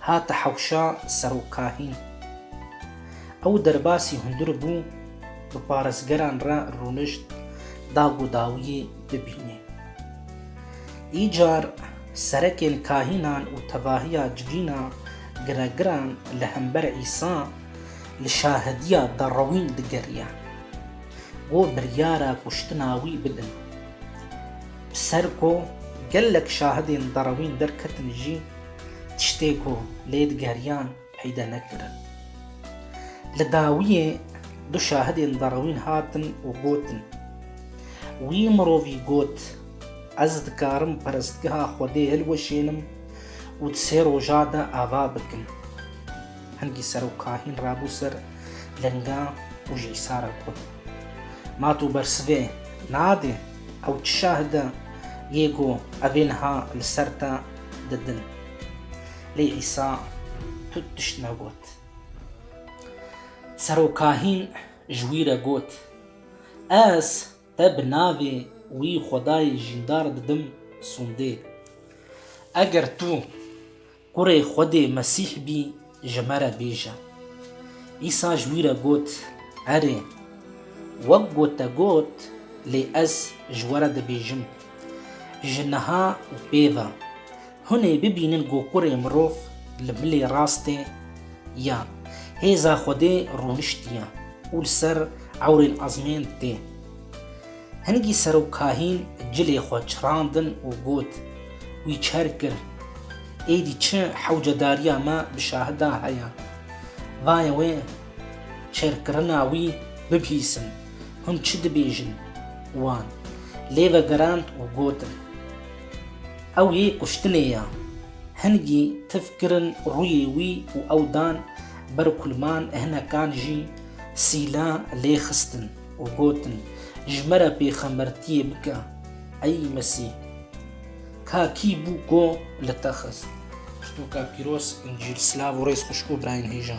Hate hewşa serokahî. Ew derbasî hundir bû bi parêzgeran re rûnişt dag û dawiyê bibînê. Îcar serekên kahînan û tevahiya civîna giregiran li hember Îsa li şahediya derewîn digeriye. Go biryara kuştina wî bidin. Bi ser ku gelek şahidên derewîn derketin jî, tiştê ku lê digeriyan peyde nekirin. Li dawiyê du şahidên derewîn hatin û gotin, Wî mirovî got, Ez dikarim perestgeha Xwedê hilweşênim û di sê roja de ava bikim. Hingî serokahîn rabû ser linga û ji Îsa re got, Ma tu bersivê nadê? Ew çi şahid e yê ku evê niha li ser te didin. Lê Îsa tu tişt negot. Serokahîn ji wî re got, Ez te bi navê wî Xwedayê jîndar didim sûndê. Eger tu Kurê Xwedê Mesîh bî, Ji me re bêje. Îsa ji wî re got, Erê, wek ku te got, lê ez ji we re dibêjim, Ji niha û pêve, hûn ê bibînin ku Kurê Mirov li milê rastê ya hêza Xwedê rûniştiye û li ser ewrên ezmên tê. Hingî serok kahîn cilê xwe çirandin û got, Wî çer kir. Êdî çi hewcedariya me bi şahidan heye? Vaye wê çerkirina wî bibîsin. Hûn çi dibêjin? Wan lê vegerand û gotin, Ew yê kuştinê ye. Hingî tif kirin rûyê wî û ew dan ber kulman hinekan jî sîla lê xistin. û gotin, Ji me re pêxembertiyê bike, ey Mesîh! Ka kî bû ku li te xist? Pirtûka pîroz, Încîl, silav û rêz xwişk û birayên hêja.